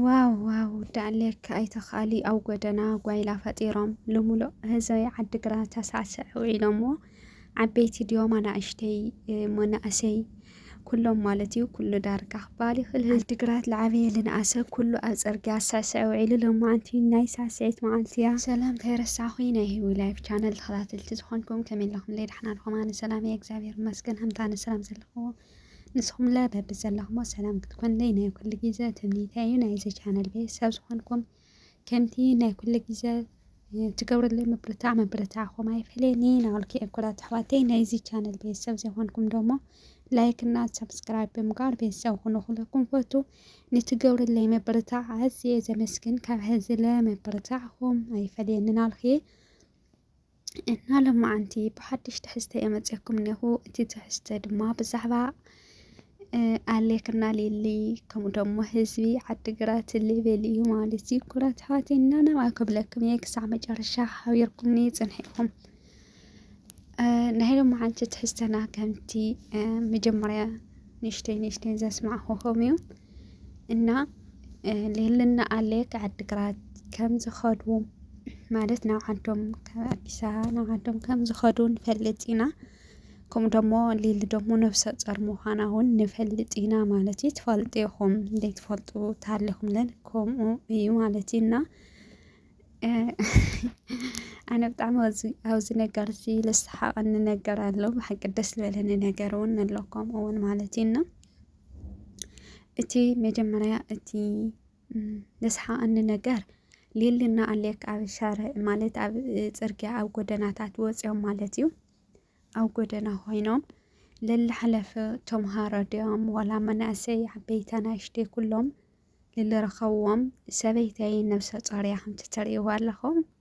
ዋው ዋው ዳዕሌካ ኣይተኻሊ ኣብ ጎደና ጓይላ ፈጢሮም ልሙሉእ ህዝቢ ዓዲግራት ተሳዕስዕ ውዒሎሞ ዓበይቲ ድዮም ኣናእሽተይ መናእሰይ ኩሎም ማለት እዩ ኩሉ ዳርጋ ክበሃል ይኽእል ዓዲግራት ዝዓበየ ልንኣሰ ኩሉ ኣብ ፅርግያ ዝስዕስዕ ውዒሉ ሎማዓንቲ ናይ ሳዕስዒት መዓልቲ እያ ሰላም ከይረሳዕኹ ናይ ህዊ ላይፍ ቻነል ተኸታተልቲ ዝኾንኩም ከመይ ኣለኹም ለይ ዳሕና ድኹም ኣነ ሰላም እየ እግዚኣብሔር ይመስገን ከምታ ኣነ ሰላም ዘለኹዎ ንስኹምለ በቢ ዘለኹሞ ሰላም ክትኮንለይ ናይ ኩሉ ግዜ ትምኒተይ እዩ ናይዚ ቻነል ቤተሰብ ዝኾንኩም ከምቲ ናይ ኩሉ ግዜ ትገብርለይ ምብርታዕ ምብርታዕኹም ኣይፈለየኒ ናበልኩ የኩራት ኣሕዋተይ ናይዚ ቻነል ቤተሰብ ዘይኮንኩም ደሞ ላይክ እና ሰብስክራይብ ብምግባር ቤተሰብ ኩኑ ኩለኩም ፈቱ ንትገብርለይ ምብርታዕ ኣዝየ ዘመስግን ካብ ሕዝለ ምብርታዕኹም ኣይፈለየኒ ናልኩ እና ለማዓንቲ ብሓድሽ ትሕዝተ እየ መፅኩም እኒኹ እቲ ትሕዝተ ድማ ብዛዕባ ኣሌክና ሊሊ ከምኡ ደሞ ህዝቢ ዓዲግራት ሊብል እዩ ማለት እዩ ኩራት ኣሕዋተይ እና ናብኣ ክብለኩም እየ ክሳዕ መጨረሻ ሓቢርኩምኒ ፅንሒኹም ናይ ለማዓንቲ ትሕዝተና ከምቲ መጀመርያ ንሽተይ ንሽተይ ዘስማዕኹም እዩ እና ሌልና ኣለ ዓድግራት ከም ዝኸዱ ማለት ናብ ዓዶም ኣዲስ ኣበባ ናብ ዓዶም ከም ዝኸዱ ንፈልጥ ኢና ከምኡ ደሞ ሊሊ ደሞ ነብሰ ጾር ምዃና እውን ንፈልጥ ኢና ማለት እዩ ትፈልጡ ኢኹም ዘይትፈልጡ ታለኹም ለን ከምኡ እዩ ማለት እዩ እና ኣነ ብጣዕሚ ኣብዚ ነገር እዚ ልስሓቐኒ ነገር ኣሎ ብሓቂ ደስ ዝበለኒ ነገር እውን ኣሎ ከምኡ እውን ማለት እዩ እና እቲ መጀመርያ እቲ ዘስሓቐኒ ነገር ሌልና ኣሌክ ኣብ ሻርዕ ማለት ኣብ ፅርግያ ኣብ ጎደናታት ወፂኦም ማለት እዩ ኣብ ጎደና ኮይኖም ለላሓለፈ ተምሃሮ ድዮም ዋላ መናእሰይ ዓበይቲ ኣናእሽተይ ኩሎም ልልረኸብዎም ሰበይተይ ነብሰ ፆር እያ ከምቲ ትሪእዋ ኣለኹም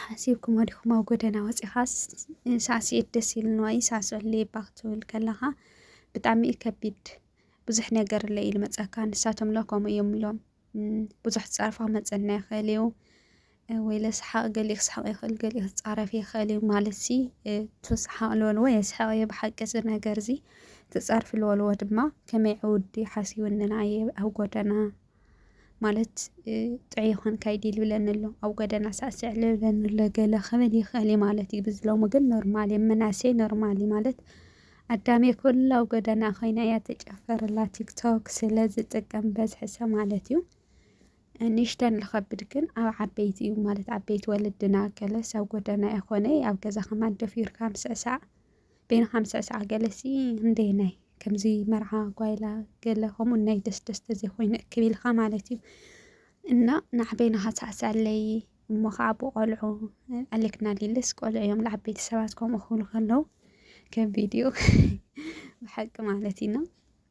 ሓሲብኩሞ ዲኹም ኣብ ጎደና ወፂኻስ ሳዕስዒት ደስ ኢልንዋ እዩ ሳዕስዕለይ እባ ክትብል ከለኻ ብጣዕሚ እዩ ከቢድ ብዙሕ ነገር እለ ኢሉ መፀካ ንሳቶም ለ ከምኡ እዮም ኢሎም ብዙሕ ዝፃረፋ ክመፀና ይኽእል እዩ ወይ ለስሓቕ ገሊኡ ክስሓቕ ይኽእል ገሊኡ ክፃረፍ ይኽእል እዩ ማለት ሲ ትስሓቕ ልበልዎ የስሓቕ እየ ብሓቂ እዚ ነገር እዚ ትፃርፊ ልበልዎ ድማ ከመይ ዕውዲ ሓሲቡ እንና እየ ኣብ ጎደና ማለት ጥዑይ ይኾንካ እዩ ዲል ብለኒ ኣሎ ኣብ ጎደና ሳዕስዕ ልብለኒ ኣሎ ገለ ክብል ይኽእል እዩ ማለት እዩ ብዚ ሎሚ ግን ኖርማል እዩ ምናሴ ኖርማል እዩ ማለት ኣዳሜ ኩላ ኣብ ጎደና ኮይና እያ ተጨፈርላ ቲክቶክ ስለ ዝጥቀም በዝሕሰ ማለት እዩ ንሽተን ልኸብድ ግን ኣብ ዓበይቲ እዩ ማለት ዓበይቲ ወለድና ገለስ ኣብ ጎደና ይኾነ ኣብ ገዛ ከማን ደፊርካ ምስዕሳዕ ቤና ከም ስዕስዓ ገለሲ እንዴ ናይ ከምዚ መርዓ ጓይላ ገለ ከምኡ ናይ ደስ ደስ ተዘይኮይኑ እክብ ኢልካ ማለት እዩ እና ናዕቤና ሃሳዕሳለይ እሞ ከዓ ብቆልዑ ኣሌክና ሊልስ ቆልዑ እዮም ንዓበይቲ ሰባት ከምኡ ክብሉ ከለዉ ከም ቪድዮ ብሓቂ ማለት እዩ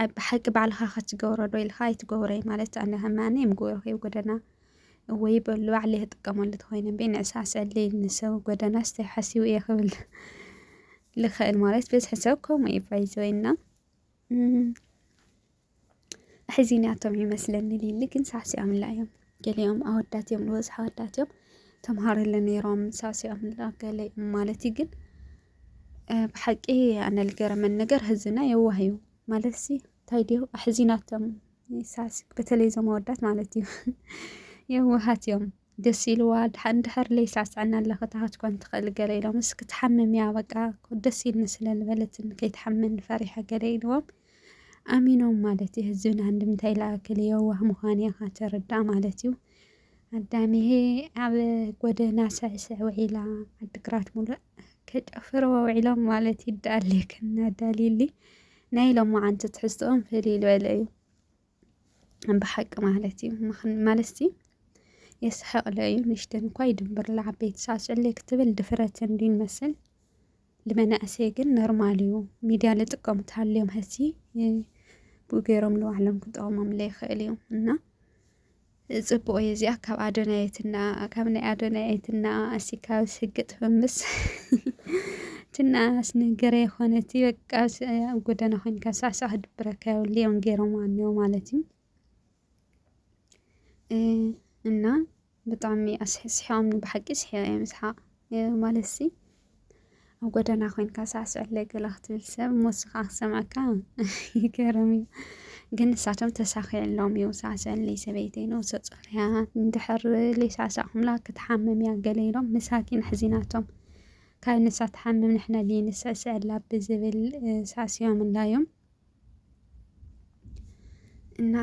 ኣይ ብሓቂ ባዕልኻ ከትገብሮ ዶ ኢልካ ኣይትገብሮይ ማለት ኣነ ከማኒ የምግብሮ ከይ ጎደና ወይ በሉ ባዕለይ ክጥቀመሉ ተኮይነ እምበይ ንዕሳ ስዕለይ ንሰብ ጎደና ስታይ ሓሲቡ እየ ክብል ልኽእል ማለት ብዝሒ ሰብ ከምኡ እዩ ባይዘወይ እና ሕዚንያቶም ይመስለኒ ሊሊ ግን ሳዕሲዖምላ እዮም ገሊኦም ኣወዳት እዮም ዝበዝሑ ኣወዳት እዮም ተምሃርለ ነይሮም ሳዕሲዖም ገለ እዮም ማለት እዩ ግን ብሓቂ ኣነ ልገረመን ነገር ህዝና የዋህ እዩ ማለት ሲ እንታይ ድዩ ኣሕዚናቶም ሳዕሲ በተለይ እዞም ኣወዳት ማለት እዩ የዋሃት እዮም ደስ ኢልዋ ድሓን ድሕር ለይሳዕስዐና ኣለ ክታሃት ኮን ትኽእል ገለ ኢሎም እስኪ ትሓምም እያ በቃ ደስ ኢልኒ ስለ ዝበለትን ከይትሓምን ፈሪሐ ገለ ኢልዎም ኣሚኖም ማለት እዩ። ህዝብን ኣንድምታይ ለኣክል የዋህ ምዃን እያ ካተረዳእ ማለት እዩ። ኣዳሚሄ ኣብ ጎደና ስዕስዕ ውዒላ ዓድግራት ሙሉእ ከጨፍርዎ ውዒሎም ማለት ይዳለየክና ዳልይሊ ናይ ሎማዓንቲ ትሕዝትኦም ፍልይ ዝበለ እዩ። ብሓቂ ማለት እዩ ማለትሲ የስሐቕለ እዩ ንሽተን እኳ ይድንብር ለዓበይቲ ሳዕስዕለ ክትብል ድፍረት እንዲ ንመስል ልመናእሰይ ግን ኖርማል እዩ ሚድያ ልጥቀሙ ተሃልዮም ሀሲ ብኡ ገይሮም ንባዕሎም ክጠቕሞም ለይኽእል እዩ እና ጽቡቅ እየ እዚኣ ካብ ኣዶናየት እና ካብ ናይ ኣዶናየት እና ኣሲካ ስግጥ ፈምስ ትናስ ነገረ የኾነት በቃ ኣብ ጎደና ኮይንካ ሳዕሳዕ ክድብረካ የብሉ እዮም ገይሮም ኣንዮ ማለት እዩ እና ብጣዕሚ ኣስሕስሖምኒ ብሓቂ ስሕዮ እዮም ስሓቅ ማለት ሲ ኣብ ጎደና ኮይንካ ሳዕስዕለይ ገለ ክትብል ሰብ ሞስኻ ክሰምዐካ ይገርም እዩ ግን ንሳቶም ተሳኺዕሎም እዩ ሳዕስዕለይ ሰበይተይ ነብሰ ጾር እያ እንድሕር ዘይሳዕሳዕኩምላ ክትሓምም እያ ገለ ኢሎም መሳኪን ኣሕዚናቶም ካብ ንሳ ትሓምም ንሕና ድየ ንስዕስዐላ ብዝብል ሳዕሲዖምላ እዮም እና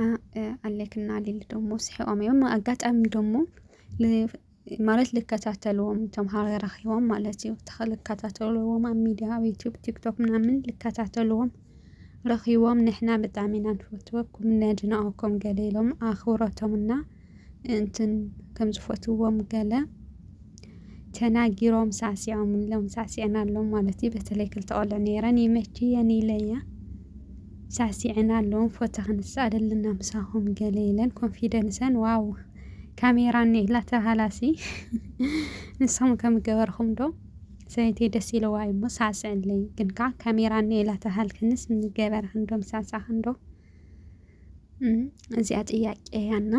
ኣሌክ እና ሊሊ ደሞ ስሒቆም እዮም ኣጋጣሚ ደሞ ማለት ልከታተልዎም እቶም ሃገር ረኺቦም ማለት እዩ ልከታተልዎም ኣብ ሚድያ ኣብ ዩቱብ ቲክቶክ ምናምን ልከታተልዎም ረኺቦም ንሕና ብጣዕሚ ኢና ንፈትወኩም ነድንቐኩም ገለ ኢሎም ኣኽብሮቶምና እንትን ከም ዝፈትዎም ገለ ተናጊሮም ሳዕሲዖም ኢሎም ሳዕሲዐናሎም ማለት እዩ በተለይ ክልተ ቆልዑ ነይረን ይመችየን ኢለያ ሳዕሲዐን ኣለዎም ፎቶ ክንስእ ኣለና ምሳኹም ገለ ኢለን ኮንፊደንሰን ዋው ካሜራ እኒላ ተባሃላሲ ንሶም ከም ገበርኹም ዶ ሰይቲ ደስ ኢለዋ እዩሞ ሳዕስዐለይ ግን ከዓ ካሜራ እኒላ ተባሃልክንስ ንገበርክን ዶ ምሳዕሳዕክን ዶ እዚኣ ጥያቄ እያና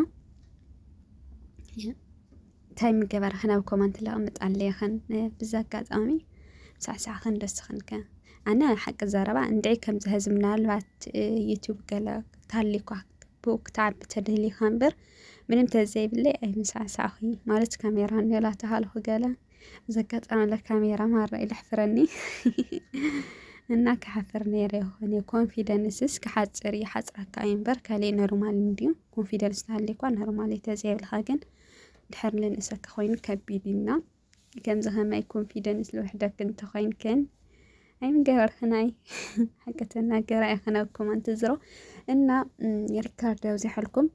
እንታይ ምገበራ ናብ ኮመንት ለቕምጥ ኣለየኸን ብዛ ኣጋጣሚ ሳዕሳዕኸን ደስኽንከ ኣነ ሓቂ ዘረባ እንድዒ ከምዚ ህዝብ ምናልባት ዩቱብ ገለ ታሊኳ ብኡ ክትዓቢ ተደሊኻ እምበር ምንም ተዘይብለይ ኣይምሳዕሳዕኹ ማለት ካሜራ ኔላ ተሃልኹ ገለ ዘጋጠመለ ካሜራ ማራ ኢለ ሕፍረኒ እና ክሓፍር ነይረ ይኾነ ኮንፊደንስስ ክሓፅር እዩ ሓፅራካ እዩ እምበር ካልእ ኖርማል እንድዩ ኮንፊደንስ ተሃልዩኳ ኖርማል እዩ ተዘይብልካ ግን ድሕር ልንእሰካ ኮይኑ ከቢድ እና ከምዚ ከማይ ኮንፊደንስ ልውሕደክ እንተኮይንክን ኣይምገበርክን ኣይ ሓቂ ተናገር ኣይኸነኩም ኣንትዝሮ እና ሪካርድ ኣብዚሐልኩም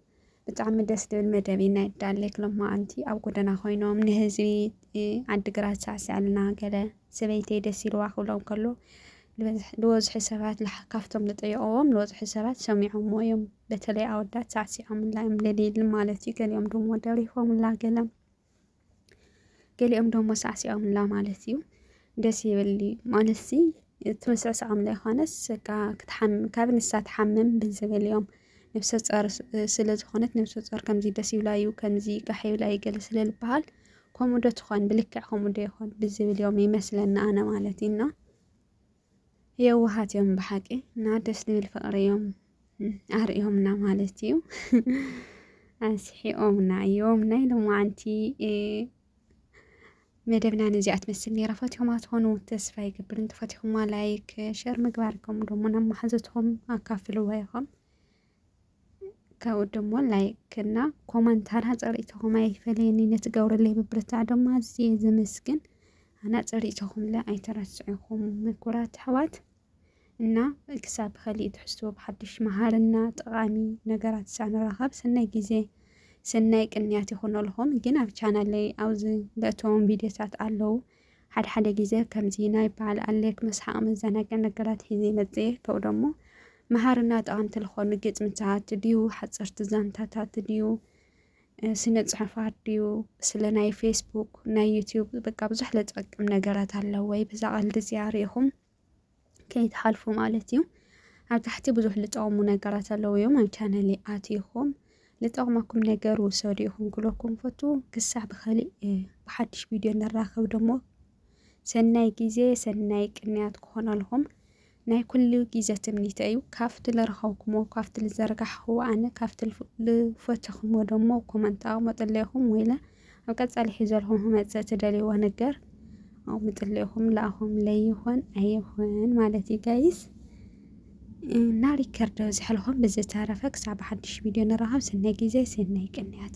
ብጣዕሚ ደስ ዝብል መደብ እዩ ናይ ዳሌክ ሎማዓንቲ ኣብ ጎደና ኮይኖም ንህዝቢ ዓዲግራት ሳዕስዕልና ገለ ሰበይተይ ደስ ኢልዋ ክብሎም ከሎ ልወዝሒ ሰባት ካብቶም ዝጠየቕዎም ልወዝሒ ሰባት ሰሚዖሞ እዮም በተለይ ኣወዳት ሳዕሲዖምላ እዮም ለሊል ማለት እዩ ገሊኦም ድሞ ደሪፎምላ ገለ ገሊኦም ደሞ ሳዕሲዖምላ ማለት እዩ ደስ ይብል ማለት ሲ እቲ ምስዕሳዖም ዘይኮነስ በቃ ክትሓምም ካብ ንሳ ትሓምም ብዝብል እዮም ነብሰ ጾር ስለ ዝኾነት ነብሰ ጾር ከምዚ ደስ ይብላ እዩ ከምዚ ጋሕ ይብላ እዩ ገለ ስለ ዝበሃል ከምኡ ዶ ትኾን ብልክዕ ከምኡ ዶ ይኾን ብዝብል እዮም ይመስለና ኣነ ማለት እዩና የዋሃት እዮም ብሓቂ እና ደስ ዝብል ፍቅሪ እዮም ኣርእዮምና ማለት እዩ ኣስሒኦምና እዮም ናይ ሎማዓንቲ መደብና ነዚኣ ትመስል ነራ ፈትኹማ ትኾኑ ተስፋ ይገብር እንተፈትኹማ ላይክ ሸር ምግባርኩም ደሞ ናብ መሓዘትኹም ኣካፍልዋ ኢኹም ካብኡ ደሞ ላይክ እና ኮመንት ኣናጸሪእተኹም ኣይፈለየኒ ነቲ ገብረለይ ብብርታዕ ደሞ ኣዝየ ዘመስግን ኣናጸሪእተኹምለ ኣይተረስዕኹም ምኩራት ኣሕዋት እና ክሳብ ብኸሊእ ትሕዝቶ ብሓድሽ መሃርና ጠቓሚ ነገራት ሳንራኸብ ሰናይ ግዜ ሰናይ ቅንያት ይኹነልኹም ግን ኣብ ቻናለይ ኣብዚ ለእተዎም ቪድዮታት ኣለዉ ሓደ ሓደ ግዜ ከምዚ ናይ በዓል ኣሌክ መስሓቒ መዘናግዒ ነገራት ሒዘ ይመጽእ እየ። ከኡ ደሞ መሃርና ጠቐምቲ ልኾኑ ግጥምታት ድዩ ሓጸርቲ ዛንታታት ድዩ ስነ ጽሑፋት ድዩ ስለ ናይ ፌስቡክ ናይ ዩትዩብ በቃ ብዙሕ ለጸቅም ነገራት ኣለወይ ብዛ ቀልዲ እዚኣ ርኢኹም ከይትሓልፉ ማለት እዩ። ኣብ ታሕቲ ብዙሕ ልጠቕሙ ነገራት ኣለዉ እዮም ኣብ ቻነል ኣትኹም ልጠቕመኩም ነገር ውሰዱ ኢኹም ክለኩም ፈቱ ክሳዕ ብኸሊእ ብሓድሽ ቪድዮ ንራኸብ ደሞ ሰናይ ግዜ ሰናይ ቅንያት ክኾነልኹም ናይ ኩሉ ግዜ ትምኒተ እዩ ካብቲ ልረኸብኩሞ ካብቲ ልዘርጋሕኹዎ ኣነ ካብቲ ልፈተኹሞ ደሞ ኮመንት ኣቕመጠለይኹም ወይለ ኣብ ቀጻሊ ሒዘልኩም ክመጽእ ትደልይዎ ነገር ኣብ ምጥልኹም ላእኹም ለይኹን ኣይኹን ማለት እዩ ጋይስ እና ሪከርድ ዘሕልኹም ብዝተረፈ ክሳብ ሓድሽ ቪድዮ ንራኸብ ስናይ ግዜ ስናይ ቅንያት